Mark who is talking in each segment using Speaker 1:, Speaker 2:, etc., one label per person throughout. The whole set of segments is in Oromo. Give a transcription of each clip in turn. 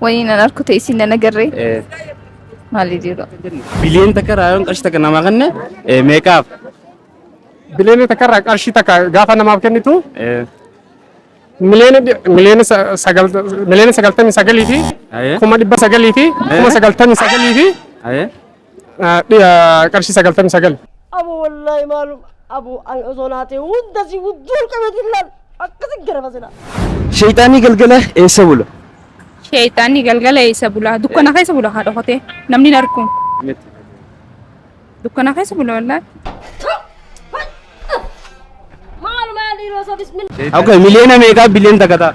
Speaker 1: Wayii nan
Speaker 2: arku ta'e isin nan agarree. Eh,
Speaker 1: Maalii
Speaker 2: jiru? Biliyoon takka irraa
Speaker 1: yoon qarshii takka namaa kenne eh, meeqaaf? Biliyoona
Speaker 3: takka irraa qarshii takka gaafa namaaf kennitu Eh,
Speaker 1: miliyoona dhi-
Speaker 3: miliyoona sa- sagal- miliyoona sagaltamii sagalii fi ayee, kuma dhibba
Speaker 1: sagalii fi
Speaker 3: kuma sagaltamii sagalii fi ayee. qarshii sagaltamii sagal. Abu wallahi
Speaker 4: maalum abu an osoo naatee hunda si wudduun qabeetiin laal akkasi garaba sila. Sheeyxaanni
Speaker 1: galgala eessa bula? Sheeyxaanni
Speaker 2: galgala eessa bula? Dukkana keessa bula haa dhokatee namni hin argu. Dukkana keessa bula wallahi.
Speaker 4: Maal maal dhiiroo osoo bismillah. Okay, miliyoona meeqaa
Speaker 1: biliyoon takka ta'a?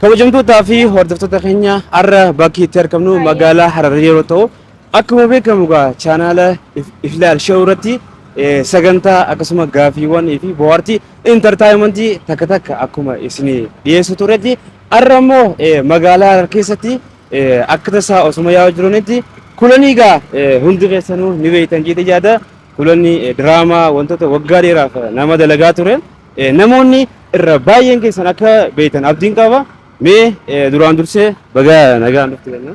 Speaker 1: Kabajamtootaa fi hordoftoota keenya har'a bakki itti argamnu magaalaa Hararii yeroo ta'u akkuma beekamu egaa chaanaala If- Iflaal Show irratti eh, sagantaa akkasuma gaafiiwwan fi bohaartii intartaayimentii takka takka akkuma isin dhiyeessu turetti har'a immoo eh, magaalaa Harar keessatti eh, akka tasaa osuma yaa'u jiranitti kulanii egaa eh, hundi keessanuu ni beektan jedhee yaada kulanni eh, diraamaa wantoota waggaa dheeraaf eh, nama dalagaa ture. Eh, Namoonni irra baay'een keessan akka beektan abdiin qaba. Mee eh, duraan dursee baga nagaan dhufte jenna.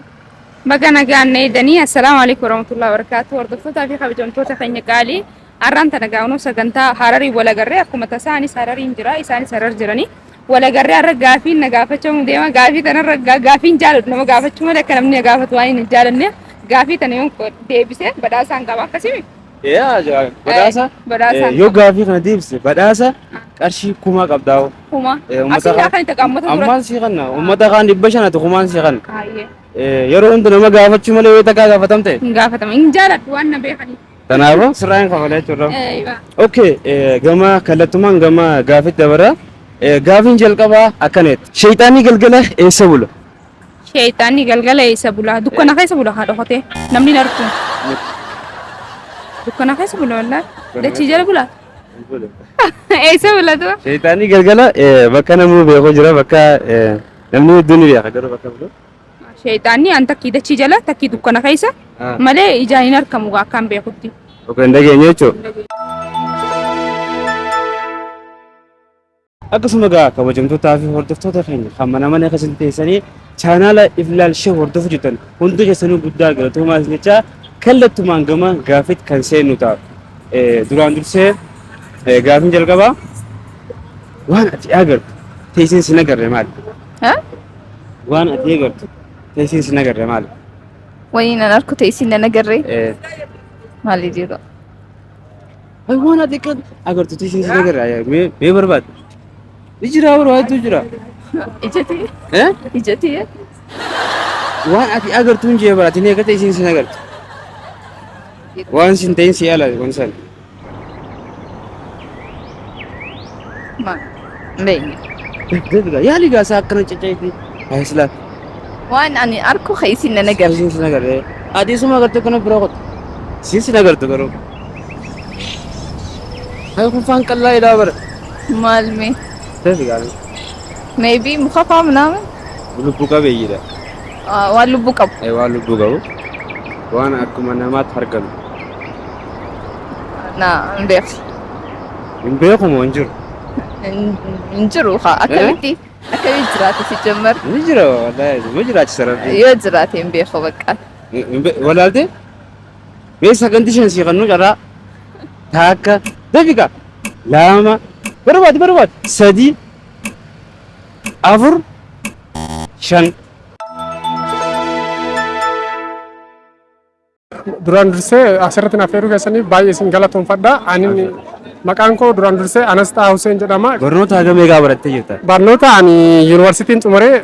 Speaker 1: Baga nagaan
Speaker 2: na eedanii assalaamu alaikum warahmatullahi wabarakatuh hordoftootaa fi kabajamtoota keenya qaalii har'aan tana gaa'unoo sagantaa hararii walagarree akkuma tasaa anis harariin jira isaanis harar jiranii walagarree har'a gaafiin na gaafachuu deema gaafii tanarra gaa- gaafiin jaalatu nama gaafachuu malee akka namni na gaafatu waan hin jaalanneef gaafii tana yoon qo- deebise badhaasaan qaba akkasimi Yaa jaa-
Speaker 1: badhaasa Eh, badhaasa. eh, yoo gaafii
Speaker 2: kana deebise
Speaker 1: badhaasa qarshii kumaa qabdaa hoo. Kuma. Eh, Asii ummata
Speaker 2: kaa kan itti qammata ture. Ammaan sii kanna
Speaker 1: ummata kaan dhibba shanati kumaan sii kanna. Baay'ee. Eh,
Speaker 2: Yeroo hunda nama
Speaker 1: gaafachuu malee yoo takkaa gaafatamte Hin gaafatama. Hin jaaladhu
Speaker 2: waan na beekaniif. kanaafuu sirraa hin
Speaker 1: kafalee jechuudha. Eh, ibaa. Okay, eh, gama kallattumaan gama gaafitti dabarra. Eh, Gaafiin jalqabaa akkana jedha. Sheeyxaanni galgala eessa bula? Sheeyxaanni
Speaker 2: galgala eessa bula? Dukkana keessa bula haa dhokatee. Namni hin argu. Dukkana keessa bula wallaahi. Dachii jala bula. Eessa bula tura? Sheeyxaanni galgala
Speaker 1: eh, bakka namuu beeku jira bakka eh, namni hedduun ni beeka garuu bakka bulu. Sheeyxaanni
Speaker 2: an takkii dachii jala takkii dukkana keessa Ah. malee ijaan hin argamu gaa akkaan beekutti. Oka hin dhageenye
Speaker 1: jechuudha. Akkasuma egaa kabajamtootaa fi hordoftoota keenya kan mana mana keessatti teessanii chaanaala Iflaal Shee hordofu jirtan hundi keessanuu guddaa galatoomaa isin jecha kallattumaan gama gaaffiitti kan seennu ta'a. Eh, Duraan dursee eh, gaaffiin jalqabaa waan ati agartu teessiin sin agarre maali? Ha? Waan ati agartu teessiin sin agarre maali? Wayii nan
Speaker 2: arku ta'e isin nan agarree Eh, maali jiru.
Speaker 1: Ay waan ati akka agartu tishuu si agarra mee mee barbaad. Ni jira warra waaytu jira. Ijati
Speaker 2: Eh?
Speaker 1: ijati Waan ati agartu hin jee baraati ni agarta isiin sin agartu. Waan sin ta'in si ala waan san.
Speaker 2: ma beeyne. Dadga
Speaker 1: yaali gaasaa akkana caccaiti. Ay silaa. Waan ani
Speaker 2: arku keessin na nagar. Isiin sin agarra.
Speaker 1: Ati isuma agartu kana bira qotu. Isiin sin agartu garuu. Ay, kun faan qallaa jedhaa bara. Maal mee?
Speaker 2: Seeti gaarii.
Speaker 1: Maybe
Speaker 2: muka faa minaamin? Lubbuu qabeeyyiidha.
Speaker 1: Ah, Waan
Speaker 2: lubbuu qabu. Ay, waan lubbuu qabu.
Speaker 1: Waan akkuma namaatti hargalu.
Speaker 2: Na hin beeku. Hin
Speaker 1: beeku moo hin jiru? Hin- Hin jiru haa.
Speaker 2: Akkamitti? Akkamitti jiraate si jammar? Ni jira wallaahi.
Speaker 1: Ni jiraachisa rabbi. Yoo jiraate hin
Speaker 2: beeku bakka. Walaaltee?
Speaker 1: Mee saganti shan sii kannuu carraa taakka daqiqa lama barbaadi barbaadi sadii afur shan.
Speaker 3: Duraan dursee asirratti naaf heeruu keessaniif baay'ee isin galatoomfadha. Ani maqaan koo duraan dursee Anas Xaa Huseen jedhama. Barnoota hagamee gaa barattee
Speaker 1: jirta? Barnoota ani
Speaker 3: yuunivarsiitiin xumuree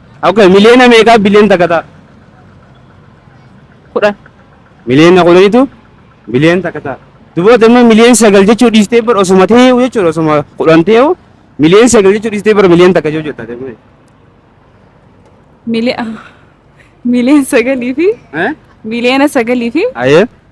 Speaker 1: Okay, miliyoona meeqaa biliyoon takka ta'a?
Speaker 2: kudhan Miliyoona
Speaker 1: kudhanitu biliyoon takka ta'a. Duboota immoo miliyoon sagal jechuu dhiistee bara osuma ta'eewu jechuudha osuma kudhan ta'eewu miliyoon sagal jechuu dhiistee bara miliyoon takka jechuu taate. Mili-
Speaker 2: miliyoon sagalii fi Eh? miliyoona sagalii fi Ayee.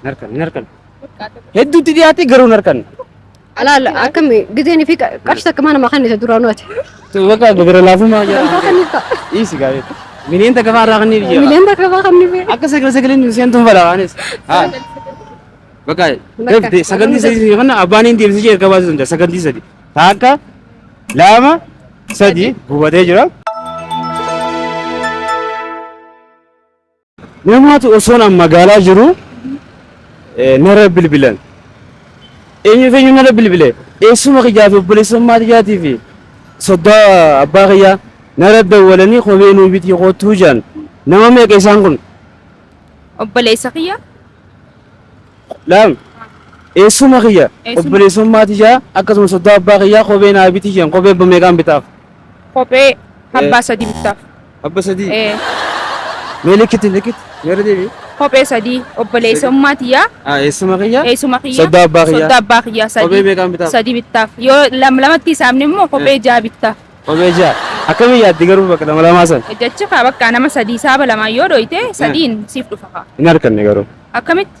Speaker 1: Hin harkanne, hin harkanne. Hedduutti dhiyaatee garuu hin harkanne. Alaala
Speaker 5: akkam gizeen fi qarshii takka mana makan isa duraanuu ati. Bakka gara
Speaker 1: laafummaa Hin jira. kakanniif ta'a. Dhiisi
Speaker 5: gaarii.
Speaker 1: Miliyoon takka fa'aa irraa kan ni biyya. Miliyoon takka fa'aa kan ni biyya. Akka
Speaker 5: sagala sagaleen nu seentu
Speaker 1: hin balaanis. Haa. Bakka Bakka. sagantii sadii yoo kana abbaan hin deemsisee erga baasuu danda'a sagantii sadii. Takka lama sadii gubatee jira. Namaatu osoon an magaalaa jiru nara bilbilan. Eenyu feenyu nara bilbile eessuma kiyyaa fi obboleessummaa tiyyaatii fi soddaa abbaa kiyyaa nara dawwalanii kophee nuu bitii koottuu jaan nama meeqa isaan kun Obboleessa
Speaker 2: kiyya.
Speaker 1: laam eessuma kiyya Eessuma. obboleessummaa
Speaker 2: tiyyaa
Speaker 1: akkasuma soddaa abbaa kiyyaa kophee naa bitii jaan kophee abba meeqaan bitaaf. Kophee
Speaker 2: abbaa sadii bittaaf. Abba sadii. Ee, Mee likkitti likkitti.
Speaker 1: Mee irra deebi'i. kophee sadii
Speaker 2: obboleessummaa tiyyaa Ah, eessuma kiyya?
Speaker 1: eessuma kiyya Soddaa abbaa
Speaker 2: kiyyaa. soddaa abbaa
Speaker 1: kiyyaa Kophee sadii
Speaker 2: meeqaan bitaaf? sadii bittaaf
Speaker 1: yoo
Speaker 2: lam lamatti isaamne immoo kophee ja'a bittaaf Kophee ja'a.
Speaker 1: Akkamii yaaddi garuu bakka lama lamaa san? jechi kaa bakka nama
Speaker 2: sadii saaba lamaan yoo dhoyte sadiin siif dhufa kaa Hin harkanne garuu.
Speaker 1: akkamitti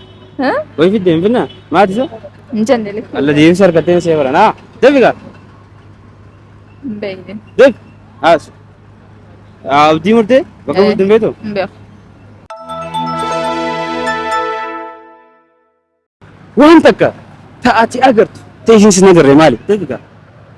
Speaker 1: Hah? Way
Speaker 5: fidde hin finna?
Speaker 1: Maati isa? Hin jenne lakkii. Alla
Speaker 5: deemsa harkattee hin seefaran.
Speaker 1: Haa! Deebi gaa! Hin
Speaker 5: beekne. Deebi! Haas!
Speaker 1: Abdii murtee? Bakka Eh. bultu hin beektu? Hin
Speaker 5: beeku.
Speaker 1: Waan takka ta'ati agartu ta'isiin sin agarre maali? Deebi gaa!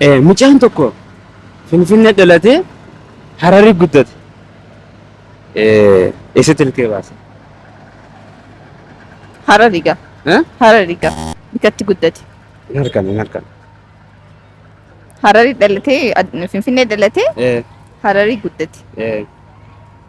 Speaker 1: Eh, Mucaan tokko Finfinnee dhalatee Hararii guddate. Eh, Eessatti ilkee baase?
Speaker 5: Harariga. Eh? Harariga. Bikatti guddate. Hin argame, hin
Speaker 1: argame. Harari
Speaker 5: dhalatee ad- Finfinnee dhalatee Eh, Hararii guddate. eh,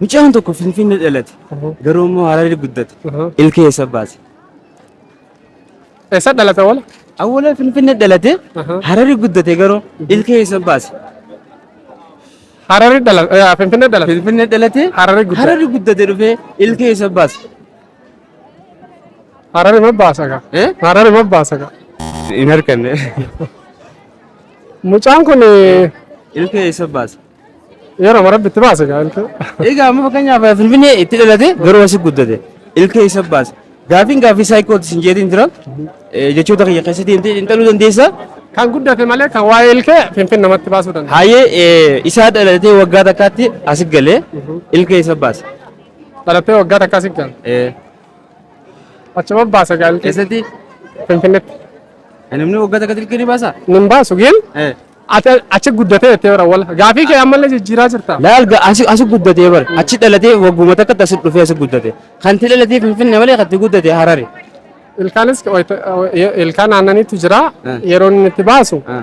Speaker 1: Mucaan tokko Finfinnee dhalate. Garuu immoo Hararii guddate. Ilkee eessa baase?
Speaker 3: Eessa dhalata wala? Awwaala Finfinnee
Speaker 1: dhalate Hararii guddate garuu ilkee eessa baase? Hararii
Speaker 3: dhalata. Finfinnee dhalata. Finfinnee dhalate Hararii
Speaker 1: guddate. Hararii guddate dhufee ilkee eessa baase?
Speaker 3: Hararii ma baasa gaa? Eh? Hararii ma baasa gaa? Hin harkanne. Mucaan kun Ilkee
Speaker 1: eessa baasa? yeroo marabbi
Speaker 3: itti baase gaa ilkee. Egaa amma fakkeenyaaf
Speaker 1: Finfinnee itti dhalate garuu asi guddate. Ilkee eessa baasa? Gaafiin gaafii saayikooti sin jeetiin jira. Eh, Jechoota kiyya keessa deemtee xiinxaluu dandeessa. Kan guddate
Speaker 3: malee kan waa'ee ilkee finfinnee namatti baasuu danda'a. Haayee eh, isaa
Speaker 1: dhalatee waggaa takkaatti asi galee ilkee eessa baasa? Dhalattee
Speaker 3: waggaa takka asi galu. Eh, Achuma baasa gaalti. Keessatti Finfinnetti. namni
Speaker 1: waggaa takka dirqii ni baasa. Nin baasu gin
Speaker 3: Eh. ati achi guddatee jettee bara wal gaafii kee ammallee jijjiiraa jirta. Laal ga- asi asi
Speaker 1: guddatee bar achi dhalatee wagguma takka asi dhufee asi guddate kan ti dhalatee finfinne malee kan ti guddate harare. Ilkaanis
Speaker 3: wayita- ilkaan aannaniitu jira Eh. yeroo inni itti baasu Ah.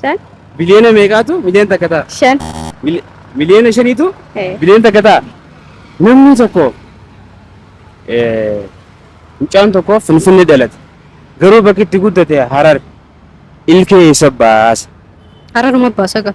Speaker 5: Shan. Biliyoona meeqaatu
Speaker 1: miliyoon takka ta'a? Shan.
Speaker 5: Mili- Miliyoona
Speaker 1: shaniitu Eh. biliyoon takka ta'a. Namni tokko eh, mucaan tokko Finfinnee dhalate. Garuu bakki itti guddate Harar. Ilkee eessa baasa? Hararuma
Speaker 5: baasa ga'a.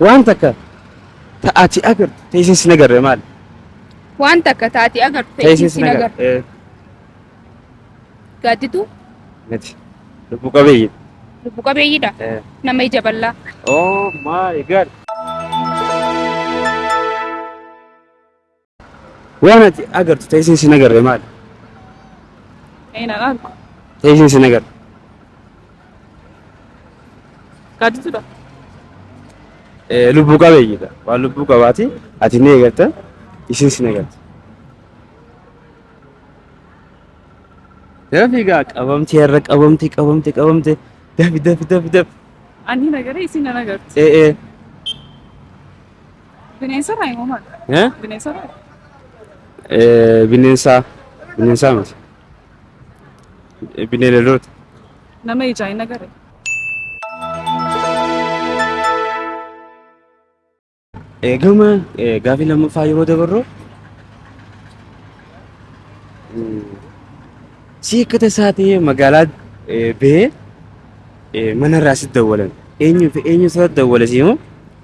Speaker 1: Waan takka ta ati agartu ta isin sin agarre maali? Waan
Speaker 2: takka ta ati agartu ta isin sin
Speaker 1: agarre.
Speaker 2: Gaadditu. Miti.
Speaker 1: Lubbu qabeeyyi. Lubbu qabeeyyiidha.
Speaker 2: Nama ija
Speaker 1: bal'aa.
Speaker 2: Oh my
Speaker 1: god. Waan ati agartu ta'ee isin sin agarre maali? Ee
Speaker 2: nan argu. Ta'ee isin sin
Speaker 1: agarre.
Speaker 2: Gaaditudha. Eh, Lubbuu
Speaker 1: qabeeyyiidha. Waan lubbuu qabaati ati ni eegatta isin sin agarta. Yeroo fiigaa qabamti irra qabamti qabamti qabamti dafi dafi dafi dafi. Ani nagaree
Speaker 2: isin nan agartu. Eh eh Bineensota
Speaker 1: immoo
Speaker 2: maal? Eh?
Speaker 1: Bineensota? Eh, bineensaa bineensaa miti Eh, bineeldoota Nama ijaa
Speaker 2: hin agarre.
Speaker 1: Eh, gama eh, gaafii lammaffaa yeroo dabarru mm, si akka tasaa ta'ee magaalaa eh, bahee eh, manarraa si dawwalan eenyu fi eenyu sana dawwale simoo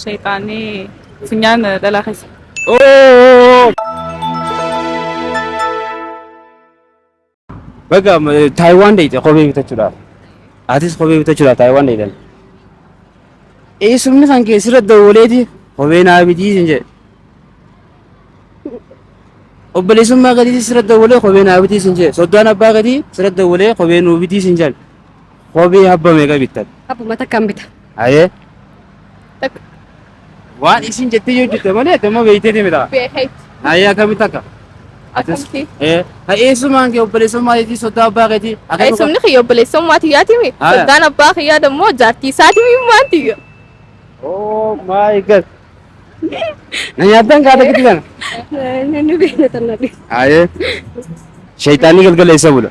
Speaker 2: Shayxaanni funyaan
Speaker 1: dhalaa keessa. Baga Taayiwaan deeyte kophee bitachuudhaaf. Atis kophee bitachuudhaaf Taayiwaan deeytan. Eessumni kan kee sirra dawwaleeti kophee naa bitii sin jedhe. Obboleessummaa gadiitis sirra dawwalee kophee naa bitii sin jedhe. Soddaan abbaa gadii sirra dawwalee kophee nuu bitii sin jedhe. Kophee habba meeqa bittan? Abbuma takkaan bita.
Speaker 5: Hayee.
Speaker 1: Takka. Waan isin jettee yoo jette malee damma beektee deemita. Beekeet. Hayee
Speaker 6: akkamitti akka?
Speaker 1: Akkamti.
Speaker 6: Ee. Eessumaan
Speaker 1: kee obboleessummaa jetii sodaa abbaa keetii. Eessumni kiyya
Speaker 6: obboleessummaa tiyyaati mi? Haa. Soddaan abbaa kiyyaa
Speaker 1: dammoo
Speaker 6: jaartii isaati mi maan tiyya? Oh
Speaker 1: my god. Na nyaattan kaata gidi kana. Inni
Speaker 5: beekatan nabi. Hayee.
Speaker 1: Shayitaanni galgala eessa bula?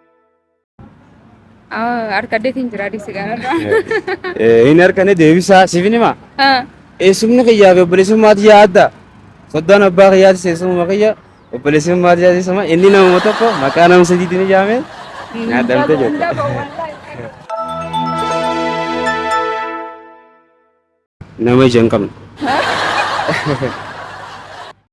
Speaker 2: Arkaddeetiin jira disi kanarraa. Hin
Speaker 1: harkane deebisaa siifin himaa. Eessumni kiyyaa fi obboleessummaa tiyyaa adda. Soddaan abbaa kiyyaati seensummaa kiyya obboleessummaa tiyyaa seensummaa inni nama tokko maqaa nama sadiitiin ijaame nyaadhamte jette. Nama ija hin qabne.